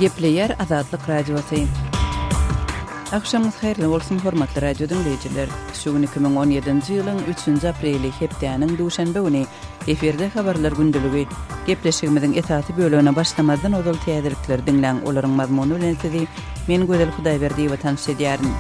Gepleýär Azatlyk Radiosy. Agşamyňyz haýyrly bolsun, hormatly radio diňleýjiler. Şu gün iki müň on ýedinji ýylyň üçünji apreli, hepdäniň duşenbe güni. Efirde Habarlar gündeligi. Gepleşigimiziň esasy bölegine başlamazdan ozal täzelikleri diňläň, olaryň mazmuny bilen sizi men Gözel Hudaýberdiýewa tanyş edýärin.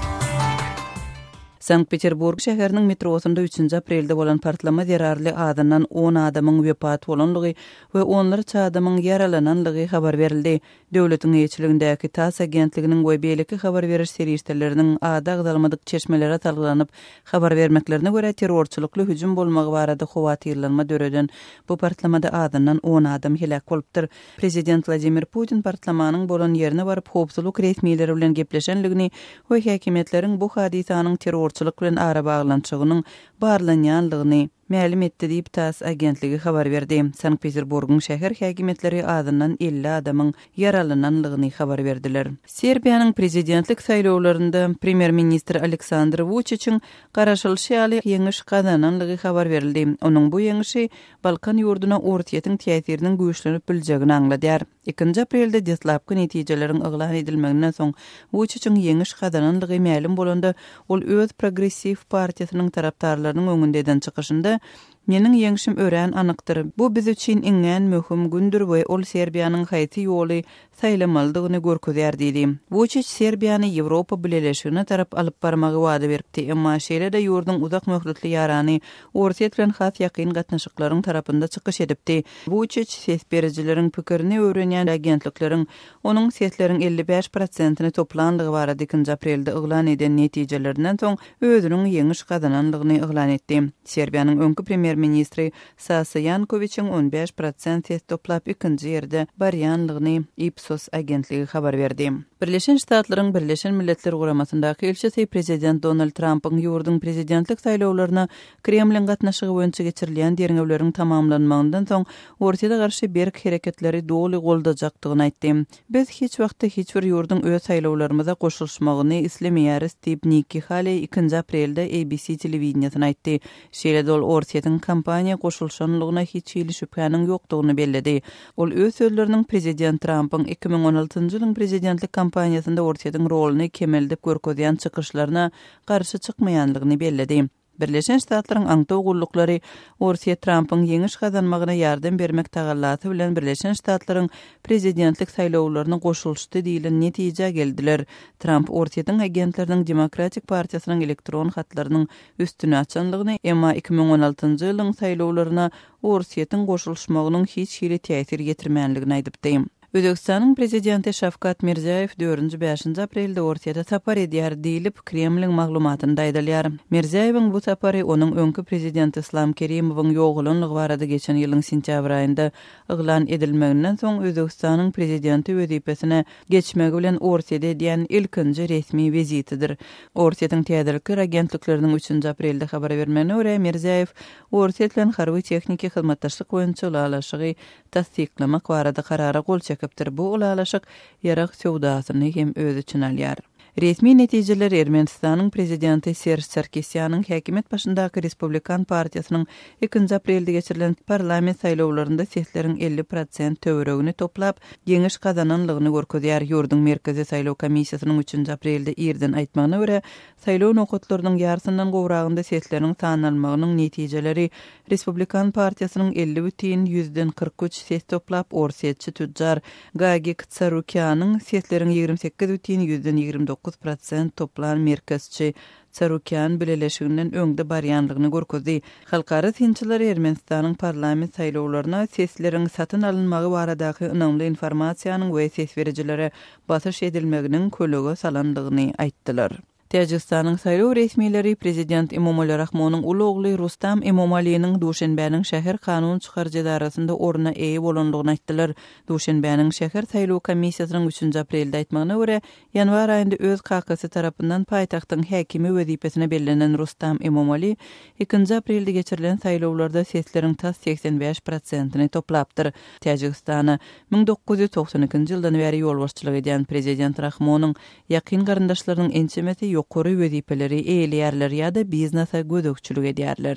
Sankt-Peterburg şäheriniň metrosynda üçünji aprelde bolan partlama zerarly azyndan on adamyň wepat bolandygy we onlarça adamyň ýaralananlygy habar berildi. Döwletiň eýeçiligindäki tass agentliginiň we beýleki habar beriş serişdeleriniň ady agzalmadyk çeşmelere salgylanyp habar bermeklerine görä, terrorçylykly hüjüm bolmagy barada howatyrlanma döreden bu partlamada azyndan on adam heläk bolupdyr. Prezident Wladimir Putin partlamanyň bolan ýerine baryp howpsuzlyk resmileri bilen gepleşenligini we häkimiýetleriň bu hadysanyň terrorçylyk bilen arabaglanyşygynyň barlanýanlygyny mälim etdi diýip, tass agentligi habar berdi. Sankt-Peterburgyň şäher häkimiýetleri azyndan elli adamyň ýaralananlygyny habar berdiler. Serbiýanyň prezidentlik saýlawlarynda premýer-ministr Aleksandr Wuçiçiň garaşylyşy ýaly ýeňiş gazananlygy habar berildi. Onuň bu ýeňişi Balkan ýurduna Orsýetiň täsiriniň güýçlenip biljegini aňladýar. Ikinji aprelde deslapky netijeleriň yglan edilmeginden soň Wuçiçiň ýeňiş gazanandygy mälim bolanda, ol öz progressiw partiýasynyň tarapdarlarynyň öňünde eden çykyşynda, Meniň ýeňşim örän anykdyr. Bu biz üçin iňňän möhüm gündür we ol Serbiýanyň haýsy ýoly saýlamalydygyny görkezýär diýdi. Wuçiç Serbiýany Ýewropa Bileleşigine tarap alyp barmagy wada beripdi, emma şeýle-de ýurduň uzak möhletli ýarany Orsýet bilen has ýakyn gatnaşyklaryň tarapynda çykyş edipdi. Wuçiç ses berijileriň pikirini öwrenýän agentlikleriň onuň sesleriň elli bäş prosentini toplandygy barada ikinji aprelde yglan eden netijelerinden soň özüniň ýeňiş gazanandygyny yglan etdi. Serbiýanyň öňki premýer-ministri Sasa Ýankowiçiň on bäş prosent ses toplap ikinji ýerde barýanlygyny Ipsos agentligi habar berdi. Birleşen Ştatlaryň Birleşen Milletler Guramasyndaky ilçisi Prezident Donald Trampyň ýurduň prezidentlik saýlawlaryna Kremliň gatnaşygy boýunça geçirilýän derňewleriň tamamlanmagyndan soň Orsýete garşy berk hereketleri doly goldajakdygyny aýtdy. Biz hiç wagtda hiç bir ýurduň öz saýlawlarymyza goşulyşmagyny islemeýäris, diýip Nikki Halei ikinji aprelde ABC telewideniýesine aýtdy. Şeýle-de ol Orsýetiň kampaniýa goşulyşanlygyna hiç hili şübhäniň ýokdugyny belledi. Ol öz sözleriniň prezident Trampyň iki müň on altynjy ýylyň prezidentlik kampaniýasynda Orsýetiň roluny kemeldip görkezýän çykyşlaryna garşy çykmaýanlygyny belledi. Birleşen Ştatlaryň aňtaw gulluklary Orsýet Trampyň ýeňiş gazanmagyna ýardam bermek tagallasy bilen Birleşen Ştatlaryň prezidentlik saýlawlaryna goşulyşdy diýlen netijä geldiler. Tramp Orsýetiň agentleriniň Demokratik partiýasynyň elektron hatlarynyň üstüni açandygyny, emma iki müň on altynjy ýylyň saýlawlaryna Orsýetiň goşulyşmagynyň hiç hili täsir ýetirmändigini aýdypdy. Özbegistanyň prezidenti Şawkat Mirziýaýew dördünji-bäşinji aprelde Orsýete sapar edýär diýlip, Kremliň maglumatynda aýdylýar. Mirziýaýewiň bu sapary onuň öňki prezident Yslam Kerimowyň ýogalanlygy barada geçen ýylyň sentýabr aýynda yglan edilmeginden soň Özbegistanyň prezidenti wezipesine geçmegi bilen Orsýete edýän ilkinji resmi wizitidir. Orsýetiň täzelikler agentlikleriniň üçünji aprelde habar bermegine görä, Mirziýaýew Orsýet bilen harby-tehniki hyzmatdaşlyk boýunça ylalaşygy tassyklamak barada karara gol çekipdir, bu ylalaşyk ýarag söwdasyny hem öz içine alýar. Resmi netijeler Ermenistanyň prezidenti Serž Sarkisýanyň häkimiýet başyndaky Respublikan partiýasynyň Ikinji aprelde geçirilen parlament saýlawlarynda sesleriň elli prosent töweregini toplap, ýeňiş gazananlygyny görkezýär. Ýurduň Merkezi saýlaw komissiýasynyň üçünji aprelde irden aýtmagyna görä, saýlaw nokatlarynyň ýarsyndan gowragynda sesleriň sanalmagynyň netijeleri Respublikan partiýasynyň elli bütin ýüzden kyrk üç ses toplap, orsýetçi tüjjar Gagik Tsarukýanyň sesleriň ýigrimi sekiz bütin ýüzden ýigrimi dokuz prosent toplan merkezçi Sarukýan bileleşiginden öňde barýanlygyny görkezdi. Halkara synçylar Ermenistanyň parlament saýlawlaryna sesleriň satyn alynmagy baradaky ynamly informasiýanyň we ses berijilere basyş edilmeginiň kölege salandygyny aýtdylar. Täjigistanyň saýlaw resmileri prezident Emomali Rahmonyň uly ogly Rustam Emomaliniň Duşenbäniň şäher kanun çykaryjy edarasynda orna eýe bolandygyny aýtdylar. Duşenbäniň şäher saýlaw komissiýasynyň üçünji aprelde aýtmagyna görä, Ýanwar aýynda öz kakasy tarapyndan paýtagtyň häkimi wezipesine bellenen Rustam Emomali ikinji aprelde geçirilen saýlawlarda sesleriň tas segsen bäş prosentini toplapdyr. Täjigistana müň dokuz ýüz togsan ikinji ýyldan bäri ýolbaşçylyk edýän prezident Rahmonyň ýakyn garyndaşlarynyň ençemesi ýokary wezipeleri eýeleýärler ýa-da biznesa gözegçilik edýärler.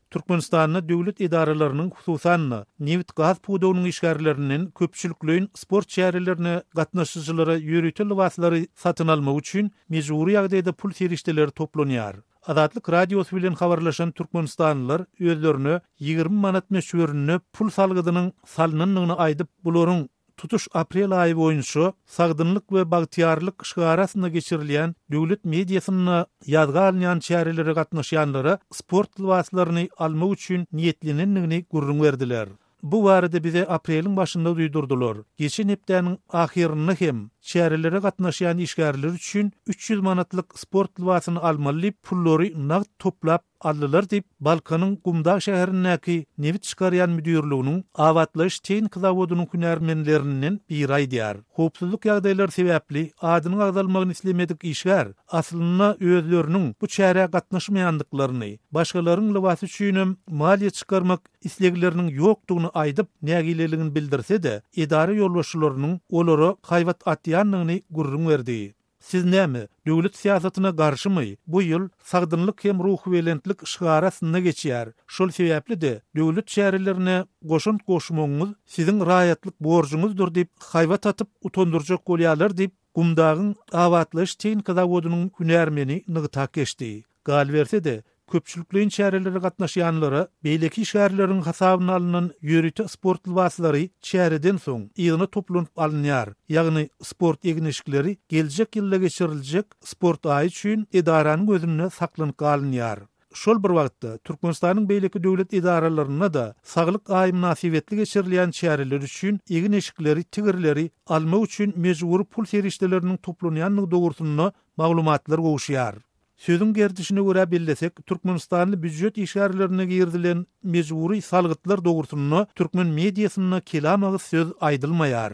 Türkmenistanda döwlet edaralarynyň, hususan-da, nebit-gaz pudagynyň işgärlerinden köpçülikleýin sport çärelerine gatnaşyjylara ýörite lybaslary satyn almak üçin mejbury ýagdaýda pul serişdeleri toplanýar. Azatlyk Radiosy bilen habarlaşan türkmenistanlylar özlerine ýigrimi manat möçberinde pul salgydynyň salnandygyny aýdyp, bularyň, Tutuş aprel aýy boýunça Sagdynlyk we bagtyýarlyk şygary astynda geçirilýän döwlet mediasynda ýazga alynýan çärelere gatnaşýanlara sport lybaslaryny almak üçin niýetlenendigini gürrüň berdiler. Bu barada bize apreliň başynda duýdurdylar. Geçen hepdäniň ahyrynda hem çärelere gatnaşýan işgärler üçin üç ýüz manatlyk sport lybasyny almaly diýip, pullary nagt toplap, Aldylar diýip, Balkanyň Gumdag şäherindäki nebit çykarýan müdirliginiň Abatlaýyş tehniki zawodynyň hünärmenlerinden biri aýdýar. Howpsuzlyk ýagdaýlary sebäpli adynyň agzalmagyny islemedik işgär aslynda özleriniň bu çärä gatnaşmaýandyklaryny, başgalaryň lybasy üçinem maliýe çykarmak islegleriniň ýokdugyny aýdyp, nägileligini bildirse-de, edara ýolbaşçylarynyň olara haýbat atýandygyny gürrüň berdi. Siz näme, döwlet syýasatyna garşymy? Bu ýyl Sagdynlyk hem ruhubelentlik şygary astynda geçýär. Şol sebäpli-de, döwlet çärelerine goşant goşmagyňyz siziň raýatlyk borjuňyzdyr diýip, haýbat atyp, utandyrjak bolýarlar diýip, Gumdagyň Abatlaýyş-tehniki zawodynyň hünärmeni nygtap geçdi. Galyberse-de, köpçülikleýin çärelere gatnaşýanlara beýleki işgärleriň hasabyna alnan ýörite sport lybaslary çäreden soň yzyna toplanyp alynýar, ýagny sport egin-eşikleri geljek ýylda geçiriljek sport aýy üçin edaranyň özünde saklanyp galynýar. Şol bir wagtda, Türkmenistanyň beýleki döwlet edaralarynda-da Saglyk aýy mynasybetli geçirilýän çäreler üçin egin-eşikleri, tigirleri almak üçin mejbury pul serişdeleriniň toplanýandygy dogrusynda maglumatlar gowuşýar. Sözüň gerdişine görä bellesek, türkmenistanly býujet işgärlerine girizilen mejbury salgytlar dogrusynda türkmen mediasynda kelam agyz söz aýdylmaýar.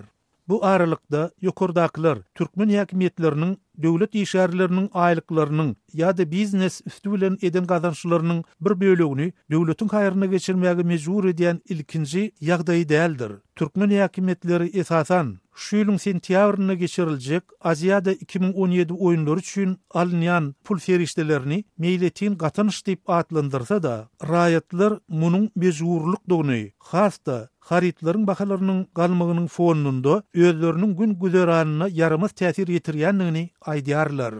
Bu aralykda, ýokardakylar, türkmen häkimiýetleriniň döwlet işgärleriniň aýlyklarynyň ýa-da biznes üsti bilen eden gazançlarynyň bir bölegini döwletiň haýryna geçirmäge mejbur edýän ilkinji ýagdaýy däldir. Türkmen häkimiýetleri esasan, şu ýylyň sentýabrynda geçiriljek, Aziada iki müň on ýedi oýunlary üçin alynýan pul serişdelerini meýletin gatanç diýip atlandyrsa-da, raýatlar munuň mejburlykdygyny, has-da, harytlaryň bahalarynyň galmagynyň fonunda özleriniň gün-güzeranyna ýaramaz täsir ýetirýändigini aýdýarlar.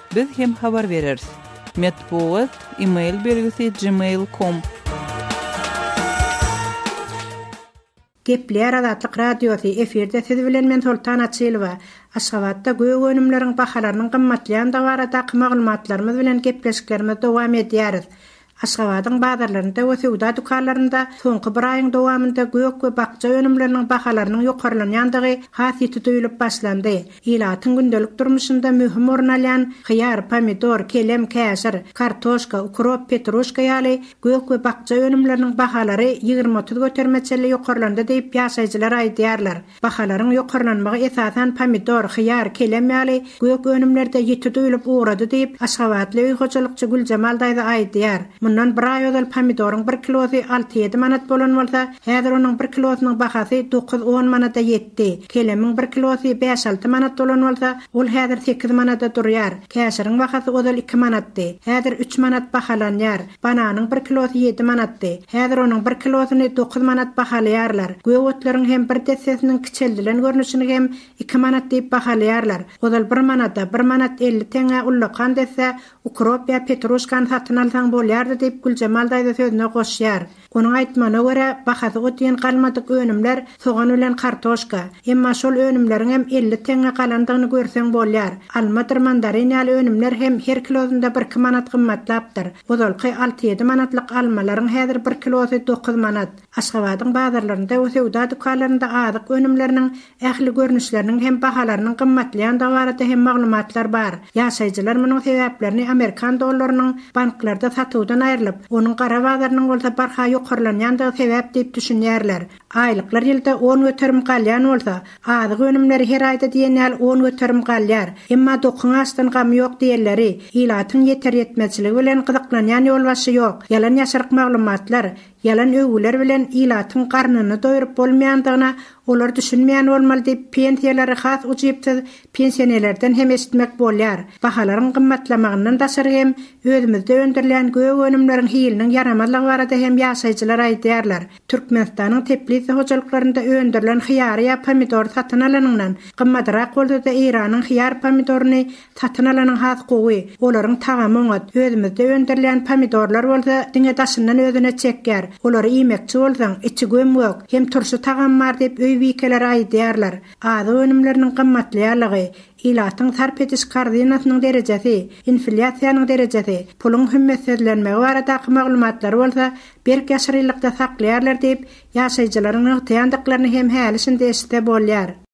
Biz hem habar bereris. Metbugat, email belgisi gmail com. Gepleýär Azatlyk Radiosy, efirde siz bilen men Soltan Açylowa. Aşgabatda gök önümleriň bahalarynyň gymmatlaýandygy baradaky maglumatlarymyz bilen gepleşiklerimizi dowam edýäris. Aşgabadyň bazarlarynda we söwda dükanlarynda soňky bir aýyň dowamynda gök we bakja önümleriniň bahalarynyň ýokarlanýandygy has ýiti duýulyp başlandy. Ilatyň gündelik durmuşynda möhüm orun alýan hyýar, pomidor, kelem, käşir, kartoşka, ukrop, petruşka ýaly gök we bakja önümleriniň bahalary ýigrimi-otuz göterme çenli ýokarlandy diýip, ýaşaýjylar aýdýarlar. Bahalaryň ýokarlanmagy esasan pomidor, hyýar, kelem ýaly gök önümlerde ýiti duýlup ugrady diýip, aşgabatly öý hojalykçy Güljemal daýza aýdýar. Mundan bir aý ozal pomidoryň bir kilosy alty-ýedi manat bolan bolsa, häzir onuň bir kilosynyň bahasy dokuz-on manada ýetdi. Kelemiň bir kilosy bäş-alty manat bolan bolsa, ol häzir sekiz manada durýar. Käşiriň bahasy ozal iki manatdy, häzir üç manat bahalanýar. Bananyň bir kilosy ýedi manatdy. Häzir onuň bir kilosyny dokuz manat bahalaýarlar. Gök otlaryň hem bir dessesiniň kiçeldilen görnüşini hem iki manat diýip bahalaýarlar. Ozal bir manada, bir manat elli teňňä ullakan desse ukrop ýa petruşkany satyn alsaň bolýardy diýip Güljemal daýza sözüne goşýar. Onuň aýtmagyna görä, bahasy ot diýen galmadyk önümler sogan bilen kartoşka. Emma şol önümleriňem elli teňňe galandygyny görseň bolýar. Almadyr mandarin ýaly önümler hem her kilosynda birki manat gymmatlapdyr. Ozalky alty-ýedi manatlyk almalaryň häzir bir kilosy dokuz manat. Aşgabadyň bazarlarynda we söwda dükanlarynda azyk önümleriniň Ähli görnüşleriniň hem bahalarynyň gymmatlaýandygy barada hem maglumatlar bar. Ýaşaýjylar munuň sebäplerini amerikan dollarynyň banklarda satuwdan aýrylyp, onuň gara bazarynyň bolsa barha ýokarlanýandygy sebäp diýip düşünýärler. Aýlyklar ýylda on göterim galýan bolsa, azyk önümleri her aýda diýen ýaly on göterim galýar. Emma dokyň açdan gamy ýok diýenleri, ilatyň ýeter-ýetmezçiligi bilen gyzyklanýan ýolbaşçy ýok. Ýalan-ýaşryk maglumatlar, Ýalan öwgüler bilen ilatyň garnyny doýuryp bolmaýandygyna olar düşünmeýän bolmaly diýip pensiýalary has ujypsyz pensionelerden hem eşitmek bolýar. Bahalaryň gymmatlamagyndan daşary hem özümizde öndürilýän gök önümleriň hiliniň ýaramazlygy barada hem ýaşaýjylar aýdýarlar. Türkmenistanyň teplisa hojalyklarynda öndürilen hyýary ýa pomidory satyn alanyňdan gymmadyrak bolsada Eýranyň hyýar pomidoryny Satyn alanyň has gowy, olaryň tagamy oňat, özümizde öndürilýän pomidorlar bolsa diňe daşyndan özüne çekýär, olary iýmekçi bolsaň, içi göm-gök, hem turşy tagamy bar diýip öý bikeleri aýydýarlar. Azyk önümleriniň gymmatlaýanlygy, ilatyň sarp ediş korzynasynyň derejesi, inflýasiýanyň derejesi, puluň hümmetsizlenmegi baradaky maglumatlary bolsa berk ýaşyrylykda saklaýarlar diýip, ýaşaýjylaryň nygtaýandyklaryny hem häli-şindi eşitse bolýar.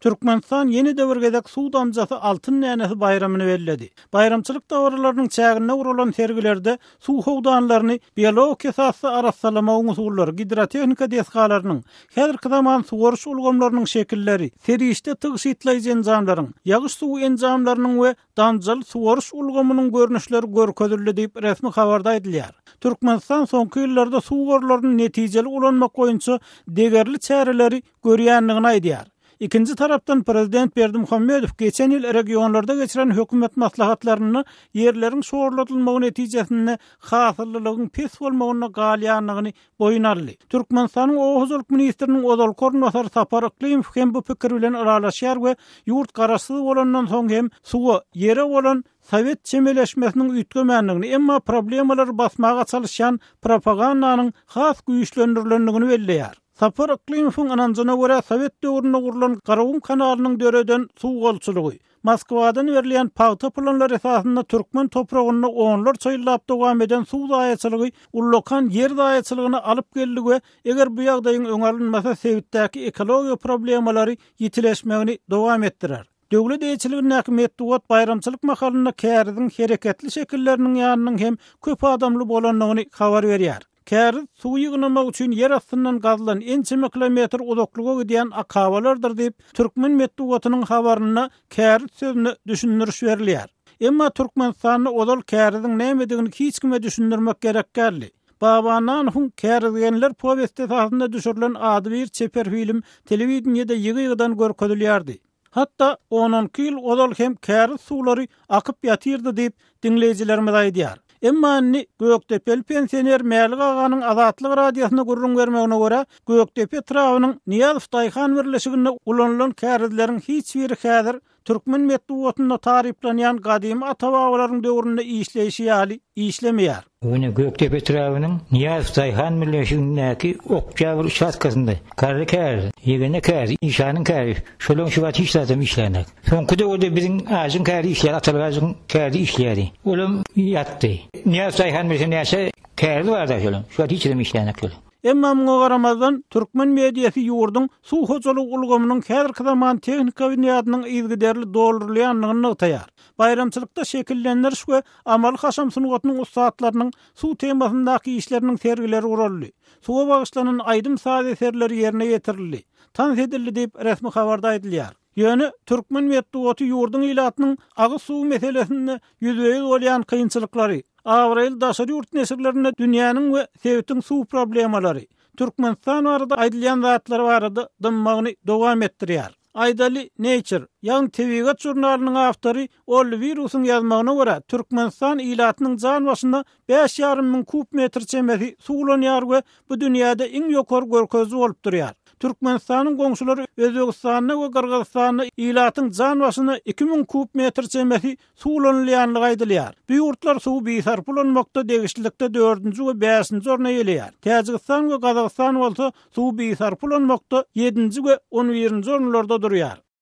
Türkmenistan ýene-de bir gezek suw damjasy altyn dänesi baýramyny belledi. Baýramçylyk dabaralarynyň çäginde guralan sergilerde suw howdanlaryny biologik esasda arassalamagyň usullary, gidrotehnika desgalarynyň, häzirki zaman suwaryş ulgamlarynyň şekilleri, serişde tygşytlaýjy enjamlaryň, ýagyş suwy enjamlarynyň we damjaly suwaryş ulgamynyň görnüşleri görkezildi diýip, resmi habarda aýdylýar. Türkmenistan soňky ýyllarda suw gorlaryny netijeli ulanmak boýunça degerli çäreleri görýändigini aýdýar. Ikinji tarapdan prezident Berdimuhamedow geçen ýyl regionlarda geçiren hökümet maslahatlarynda ýerleriň şorladylmagy netijesinde hasyllylygyň pes bolmagynda galýandygyny boýun aldy. Türkmenistanyň oba hojalyk ministriniň ozalky orunbasary Sapar Yklymow hem bu pikir bilen ylalaşýar we ýurt garaşsyz bolandan soň hem suwa, ýere bolan sowet çemeleşmesiniň üýtgemändigini, emma problemalary basmaga çalyşýan propagandanyň has güýçlendirilendigini belleýär. Sapar Yklymowyň ynanjyna görä, sowet döwründe gurlan Garagum kanalynyň döreden suw golçulygy, Moskwadan berilýän pagta planlary esasynda türkmen topragynda onlarça ýyllap dowam eden suw zaýaçylygy ullakan ýer zaýaçylygyna alyp geldi we eger bu ýagdaýyň öňi alynmasa sebitdäki ekologiýa problemalary ýitileşmegini dowam etdirer. Döwlet eýeçiligindäki metbugat baýramçylyk mahalynda käriziň hereketli şekilleriniň ýanynyň hem köp adamly bolandygyny habar berýär. Käriz suw ýygnamak üçin ýer astyndan gazylan ençeme kilometr uzaklyga gidýän akabalardyr diýip, türkmen metbugatynyň habarynda käriz sözüne düşündiriş berilýär. Emma Türkmenistanda ozal käriziň nämedigini hiç kime düşündirmek gerek däldi. Baba Nan Hung Kärizgenler powesti esasynda düşürilen adybir çeper film telewideniýede ýygy-ýygydan görkezilýärdi. Hatda on on iki ýyl ozal hem käriz suwlary akyp ýatyrdy diýip, diňleýjilerimiz aýdýar. Emma indi gökdepeli pensioner Mälik aganyň Azatlyk Radiosyna gürrüň bermegine görä, Gökdepe etrabynyň Nyýazow daýhan birleşiginde ulanylan kärizleriň hiç biri häzir Türkmen metbugatynda taryplanýan gadymy ata-babalaryň döwründe işleýşi ýaly işlemeýär. Bu gün Gökdepe etrabynyň Nyýazow daýhan birleşigindäki oktýabr uçastkasynda garry kär, ýegene kär, işanyň käri, şol öň şu wagt hiç zadam işlänok. Soňky döwürde biziň ajyň käri işleýär, atalyk ajyň käri işleýärdi. Olam ýatdy. Nyýazow daýhan birleşiginde näçe käri bardy şolaryň? Şu wagt hiç adam işlänok şolar. Emma muňa garamazdan, türkmen mediasy ýurduň suw hojalygy ulgamynyň häzirki zaman tehnika binýadynyň yzygiderli doldurylýandygyny nygtaýar. Baýramçylykda şekillendiriş we amaly-haşam sungatynyň ussatlarynyň suw temasyndaky işleriniň sergileri guraldy, suwa bagyşlanan aýdym-saz eserleri ýerine ýetirildi, tans edildi diýip, resmi habarda aýdylýar. Ýöne türkmen metbugaty ýurduň ilatynyň agyz suwy meselesinde ýüzbe-ýüz bolýan kynçylyklary, abraýly daşary ýurt neşirlerinde dünýäniň we sebitiň suw problemalary, Türkmenistan barada aýdylýan zatlar barada dymmagyny dowam etdirýär. Aýdaly, Nature, ýagny Tebigat žurnalynyň awtory Ol wirusyň ýazmagyna görä, Türkmenistan ilatynyň jan başyna bäş ýarym müň kub metr çemesi suw ulanýar we bu dünýäde iň ýokary görkeziji bolup durýar. Türkmenistanyň goňşulary Özbegistanda we Gyrgyzystanda ilatyň jan başyna iki müň kub metr çemesi suw ulanylýandygy aýdylýar. Bu ýurtlar suwy bisarp ulanmakda degişlilikde dördünji we bäşinji orny eýeleýär. Täjigistan we Gazagystan bolsa suwy bisarp ulanmakda ýedinji we on birinji orunlarda durýar.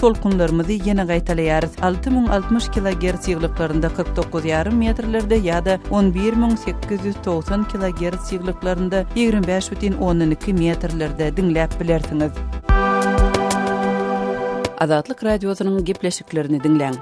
Tolkunlarymyzy ýene gaýtalaýarys, alty müň altmyş kilogerts ýyglyklarynda kyrk dokuz ýarym metrlerde ýa-da on bir müň sekiz ýüz togsan kilogerts ýyglyklarynda ýigrimi bäş bütin ondan iki metrlerde diňläp bilersiňiz. Azatlyk Radiosynyň gepleşiklerini diňläň!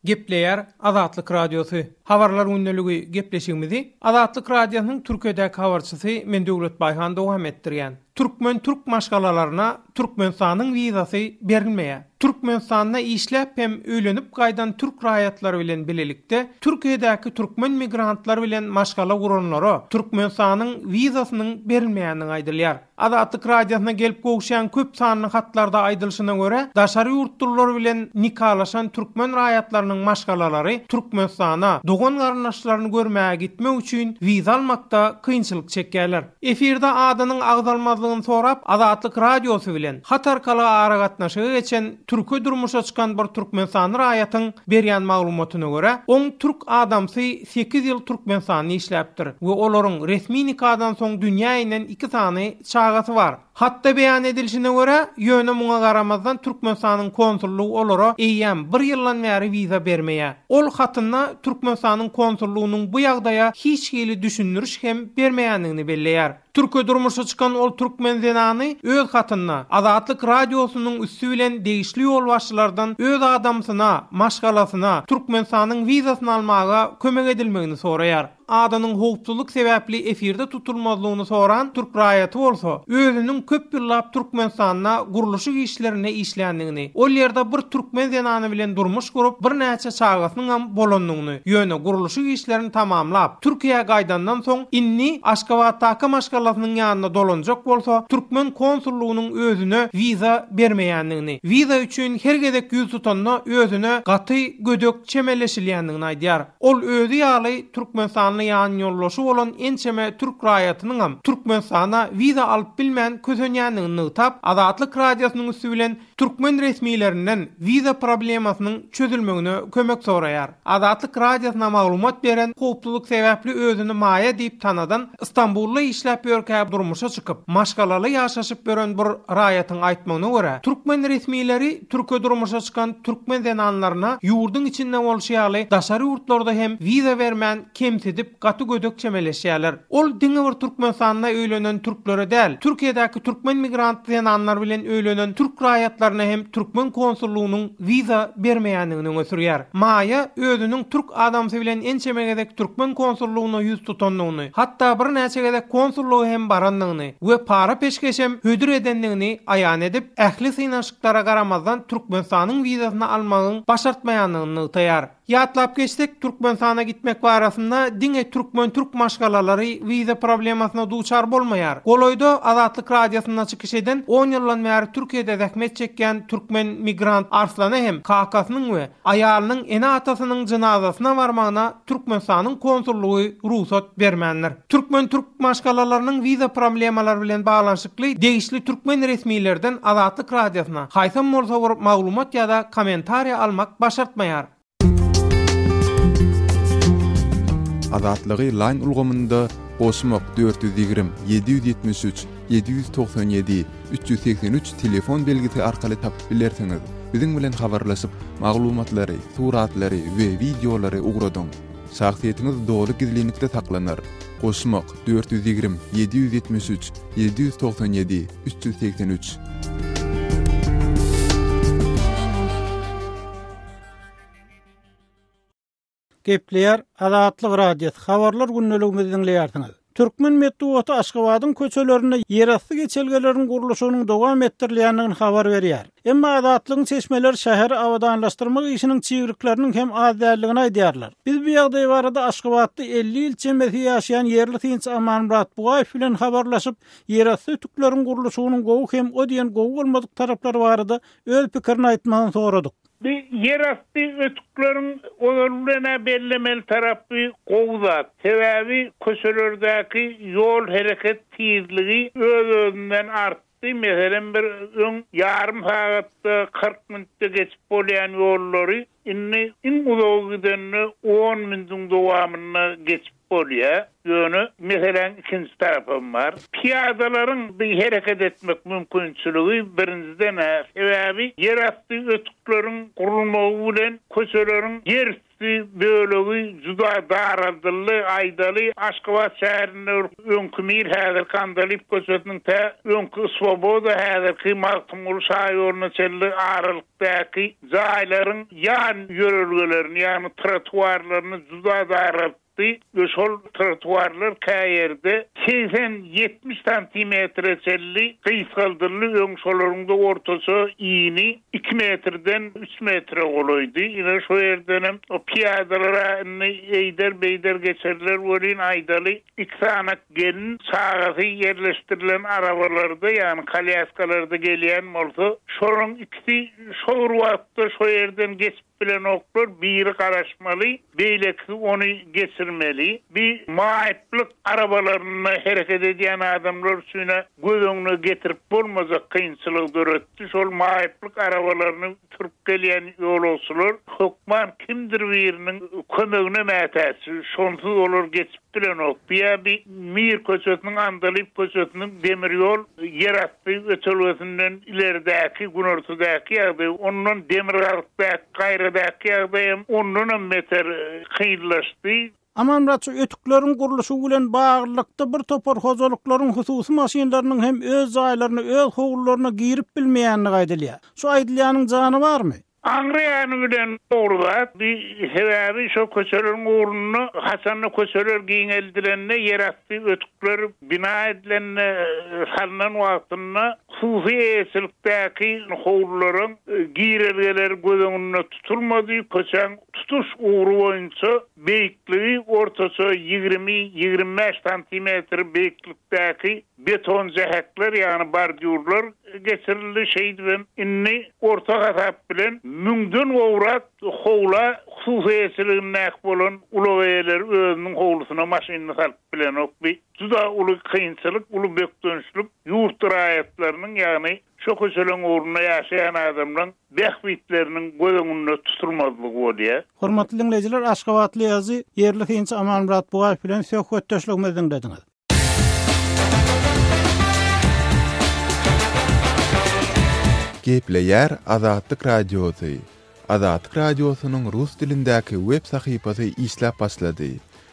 Gepleýär Azatlyk Radiosy. Habarlar gündäligi gepleşigimizi Azatlyk Radiosynyň Türkiýedäki habarçysy men Döwlet Baýhan dowam etdirýän. Türkmen türk maşgalalaryna Türkmenistanyň wizasy berilmeýär. Türkmenistanda işläp hem öýlenip gaýdan türk raýatlary bilen bilelikde Türkiýedäki türkmen migrantlar bilen maşgala guranlara Türkmenistanyň wizasynyň berilmeýändigi aýdylýar. Azatlyk Radiosyna gelip gowşan köp sanly hatlarda aýdylşyna görä, daşary ýurtlular bilen nikalaşan türkmen raýatlarynyň maşgalalary Türkmenistana dogan-garyndaşlaryny görmäge gitmek üçin wiza almakda kynçylyk çekýärler. Efirde adynyň agzalmazlygyny sorap Azatlyk Radiosy bilen hat arkaly aragatnaşyga geçen türke durmuşa çykan bir türkmenistanly raýatyň berýän maglumatyna görä, oň türk adamsy sekiz ýyl Türkmenistanda işläpdir we olaryň resmi nikadan soň dünýä inen iki sany çagasy bar. Hatda beýan edilişine görä, ýöne muňa garamazdan Türkmenistanyň konsullygy olara eýýäm bir ýyldan bäri wiza bermeýär. Ol hatynda Türkmenistanyň konsullygynyň bu ýagdaýa hiç hili düşündiriş hem bermeýändigini belleýär. Türke durmuşa çykan ol türkmen zenany öz hatynda Azatlyk Radiosynyň üsti bilen degişli ýolbaşçylardan öz adamsyna, maşgalasyna, Türkmenistanyň wizasyny almaga kömek edilmegini soraýar. Adynyň howpsuzlyk sebäpli efirde tutulmazlygyny soran türk raýaty bolsa, özüniň köp ýyllap Türkmenistanda gurluşyk işlerinde işländigini, ol ýerde bir türkmen zenany bilen durmuş gurup, birnäçe çagasynyňam bolandygyny, Ýöne gurluşyk işlerini tamamlap, Türkiýä gaýdandan soň, indi Aşgabatdaky maşgalasynyň ýanyna dolanjak bolsa, türkmen konsullygynyň özüne wiza bermeýändigini, wiza üçin her gezek ýüz tutanda özüne gaty gödek çemeleşilýändigini aýdýar. Ol özi ýaly türkmenistanly ýanýoldaşy bolan ençeme türk raýatynyňam Türkmenistana wiza alyp bilmän kösenýändigini nygtap, Azatlyk Radiosynyň üsti bilen Türkmen resmilerinden wiza problemasynyň çözülmegine kömek soraýar. Azatlyk Radiosyna maglumat beren howpsuzlyk sebäpli özüni Maýa diýip tanadan Stambulda işläp ýörkä durmuşa çykyp, maşgalaly ýaşaşyp ýören bir raýatyň aýtmagyna görä, türkmen resmileri Türkiýe durmuşa çykan türkmen zenanlaryna ýurduň içinde bolşy ýaly daşary ýurtlarda hem wiza bermän kemsidip, gaty gödek çemeleşýärler. Ol diňe bir Türkmenistanda öýlenen türklere däl, Türkiýedäki türkmen migrant zenanlar bilen öýlenen türk raýatlaryna hem türkmen konsullygynyň wiza bermeýändigini öňe sürýär. Maýa özüniň türk adamsy bilen ençeme gezek türkmen konsullygyna ýüz tutandygyny, hatda birnäçe gezek konsullyga hem barandygyny we para-peşgeşem hödür edendigini aýan edip, ähli synanyşyklara garamazdan Türkmenistanyň wizasyny almagyň başartmaýandygyny nygtaýar. Ýatlap geçsek, Türkmenistana gitmek barasynda diňe türkmen-türk maşgalalary wiza problemasyna duçar bolmaýar. Golaýda Azatlyk Radiosynda çykyş eden on ýyldan bäri Türkiýede zähmet çekýän türkmen migrant Arslana hem kakasynyň we aýalynyň ene-atasynyň jynazasyna barmagyna Türkmenistanyň konsullygy rugsat bermändir. Türkmen-türk maşgalalarynyň wiza promlemalary bilen baglanyşykly degişli türkmen resmilerden Azatlyk Radiosyna haýsam bolsa bir maglumat ýa-da kommentariýa almak başartmaýar. Azatlygy Line ulgamynda goşmak dört ýüz ýigrimi, ýedi ýüz ýetmiş üç, ýedi ýüz togsan ýedi, üç ýüz segsen üç telefon belgisi arkaly tapyp bilersiňiz. Biziň bilen habarlaşyp, maglumatlary, suratlary we wideolary ugradyň. Şahsyýetiňiz doly gizlinlikde saklanar. Goşmak, dört ýüz ýigrimi, ýedi ýüz ýetmiş üç, ýedi ýüz togsan ýedi, üç ýüz segsen üç. Gepleýär Azatlyk Radiosy, Habarlar gündeligimizi diňleýärsiňiz. Türkmen metbugaty Aşgabadyň köçelerinde ýerasty geçelgeleriň gurluşygynyň dowam etdirilýändigini habar berýär. Emma Azatlygyň çeşmeleri şäheri abadanlaşdyrmak işiniň çygyryklarnyň hem az däldigini aýdýarlar. Biz bu ýagdaý barada Aşgabatda elli ýyl çemesi ýaşaýan ýerli synçy Amanmyrat Bugaýew bilen habarlaşyp, ýerasty ötükleriň gurluşygynyň gowy hem o diýen gowy bolmadyk taraplary barada öz pikirini aýtmagyny soradyk. Bu ýerasty ötükleriň ozal bilen-ä bellemeli tarapy gowy zat. Sebäbi köçelerdäki ýol hereket tizligi öz-özünden artdy, meselem bir öň ýarym sagatda, kyrk minutda geçip bolýan ýollary indi iň uzagy gidende on minutiň dowamynda geçip bolýar. Ýöne meseläň ikinji tarapam bar. Pyýadalaryň bi hereket etmek mümkinçiligi birinjiden-ä, sebäbi ýerasty ötükleriň gurulmagy bilen köçeleriň ýerüsti bölegi juda daraldyldy. Aýdaly, Aşgabat şäherinde bir öňki Mir, häzirki Andalyp köçesiniň tä öňki Swoboda, häzirki Magtymguly şaýoluna çenli aralyk. Däki jaýlaryň ýan ýörelgelerini, ýagny trotuarlaryny juda daraltdy we şol trotuarlar käýerde segsen, ýetmiş santimetre çenli gysgaldyldy, öň şolaryň-da ortaça yny iki metrden üç metre golaýdy. Ine, şo ýerdenem o pyýadalar-a indi eýder-beýder geçerler welin, aýdaly, Iki sany gelin çagasy ýerleşdirilen arabalarda, ýagny kolýaskalarda gelýän bolsa, şolaryň ikisi şo bir wagtda şo ýerden geçip bilenoklar, biri garaşmaly, beýlekisi ony geçirmeli. Bi maýyplyk arabalarynda hereket edýän adamlar üçin-ä göz öňüne getirip bolmajak kynçylygy döretdi. Şol maýyplyk arabalaryny Turup gelýän ýolagçylar hökman kimdir biriniň kömegine mätäç. Şonsuz olar geçip bilenok. Bu ýa bir Mir köçesiniň, Andalyp köçesiniň demir ýol ýerasty ötelgesinden ileridäki günortadaky ýagdaý, ondan demirgazykdaky gaýradak ýagdaýam ondanam beter kynlaşdy. Amanratça ötükleriň gurluşygy bilen baglylykda bir topar hojalyklaryň hususy maşynlarynyň hem öz jaýlaryna, öz howlularyna girip bilmeýändigi aýdylýar. Şu aýdylýanyň jany barmy? Aňry ýany bilen dogry zat. Bi sebäbi şo köçeleriň ugrunda haçanda köçeler giňeldilende, ýerasty ötükler bina edilende, salnan wagtynda hususy eýeçilikdäki howlularyň girelgeleri göz öňünde tutulmady, köçäň tutuş ugry boýunça Beýikligi ortaça ýigrimi, ýigrimi bäş santimetr beýiklikdäki beton jähekler, ýagny bordýurlar geçirildi, şeýdibem indi orta hasap bilen müňden gowrak howla hususy eýeçiligindäki bolan ulag eýeleri özüniň howlusyna maşynyny salyp bilenok. Bu juda uly kynçylyk, uly bökdençlik ýurt raýatlarynyň, ýagny Şo köçeleň ugrunda ýaşaýan adamlaň bähbitleriniň göz öňünde tutulmazlygy bolýar. Hormatly diňleýjiler, aşgabatly ýazyjy, ýerli synçy Amanmyrat Bugaýew bilen söhbetdeşligimizi diňlediňiz. Gepleýär Azatlyk Radiosy, Azatlyk Radiosynyň rus dilindäki web sahypasy işläp başlady.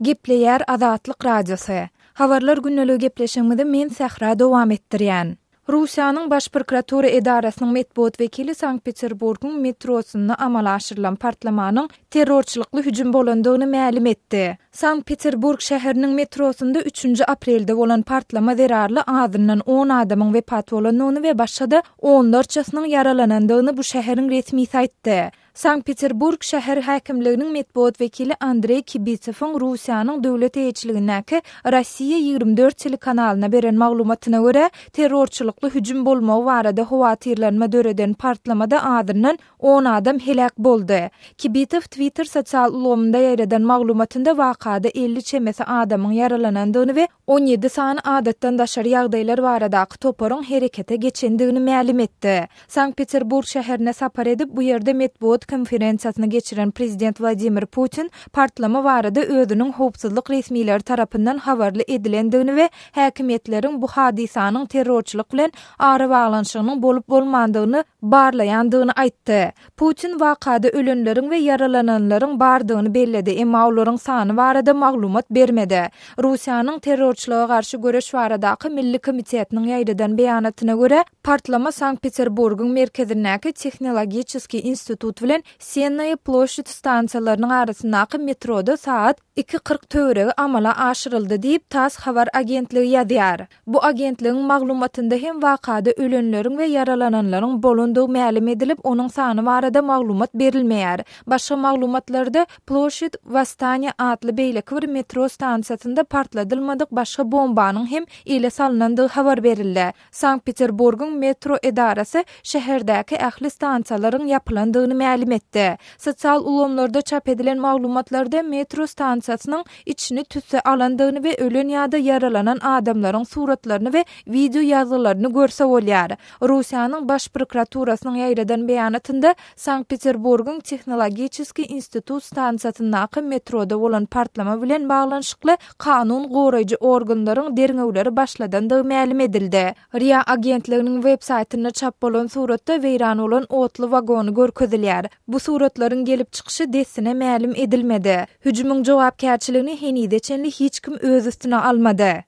Gepleýär Azatlyk Radiosy. Habarlar günneligi gepleşigimizi men Sähra dowam etdirýän. Russiýanyň Baş prokuratura edarasynyň metbugat wekili Sankt-Peterburgyň metrosynda amala aşyrylan partlamanyň terrorçylykly hüjüm bolandygyny mälim etdi. Sankt-Peterburg şäheriniň metrosynda üçünji aprelde bolan partlama zerarly azyndan on adamyň wepat bolandygyny we başga-da onlarçasynyň ýaralanandygyny bu şäheriň resmisi aýtdy. Sankt-Peterburg şäher häkimliginiň metbugat wekili Andreý Kibitsewiň Russiýanyň döwlet eýeçiligindäki Rossiýa ýigrimi dört telekanalyna beren maglumatyna görä, terrorçylykly hüjüm bolmagy barada howatyrlanma döreden partlamada azyndan on adam heläk boldy. Kibitsew Twitter sosial ulgamynda ýaýradan maglumatynda wakada elli çemesi adamyň ýaralanandygyny we on ýedi sany adatdan daşary ýagdaýlar baradaky toparyň herekete geçendigini mälim etdi. Sankt-Peterburg şäherine sapar edip, bu ýerde metbugat konferensiýasyny geçiren prezident Wladimir Putin partlama barada özüniň howpsuzlyk resmileri tarapyndan habarly edilendigini we häkimiýetleriň bu hadysanyň terrorçylyk bilen arabaglanyşygynyň bolup-bolmandygyny barlaýandygyny aýtdy. Putin wakada ölenleriň we ýaralananlaryň bardygyny belledi, emma olaryň sany barada maglumat bermedi. Russiýanyň Terrorçylyga garşy göreş baradaky milli komitetiniň ýaýradan beýanatyna görä, partlama Sankt-Peterburgyň merkezindäki Tehnologiçeskiý institut bilen Sennaýa ploşçad stansiýalarynyň arasyndaky metroda sagat Iki kyrk töweregi amala aşyryldy diýip, tass habar agentligi ýazýar. Bu agentligiň maglumatynda hem wakada ölenleriň we ýaralananlaryň bolandygy mälim edilip, onuň sany barada maglumat berilmeýär. Başga maglumatlarda Ploşçid Wostaniýa atly beýleki bir metro stansiýasynda partladylmadyk başga bombanyň hem ele salnandygy habar berildi. Sankt-Peterburgyň metro edarasy şäherdäki ähli stansiýalaryň ýapylandygyny mälim etdi. Sosial ulgamlarda çap edilen maglumatlarda metro stansiýasynyň içini tüsse alandygyny we ölen ýa-da ýaralanan adamlaryň suratlaryny we wideo ýazgylaryny görse bolýar. Russiýanyň Baş prokuraturasynyň ýaýradan beýanatynda Sankt-Peterburgyň Tehnologiçeskiý institut stansiýasyndaky metroda bolan partlama bilen baglanyşykly kanun goraýjy organlaryň derňewleri başladandygy mälim edildi. Ria agentliginiň websaýtynda çap bolan suratda weýran bolan otly wagony görkezilýär. Bu suratlaryň gelip çykyşy dessine mälim edilmedi. Hüjümiň jogapkärçiligini henize çenli hiç kim öz üstüne almady.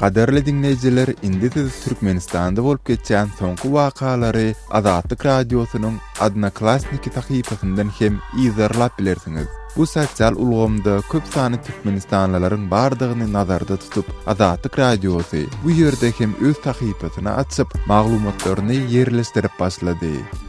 Gaderli diňleýjiler, indi siz Türkmenistanda bolup geçýän soňky wakalary Azatlyk Radiosynyň Odnoklassniki sahypasyndan hem yzarlap bilersiňiz. Bu sosial ulgamda köp sany türkmenistanlylaryň bardygyny nazarda tutup, Azatlyk Radiosy bu ýerde hem öz sahypasyny açyp, maglumatlaryny ýerleşdirip başlady.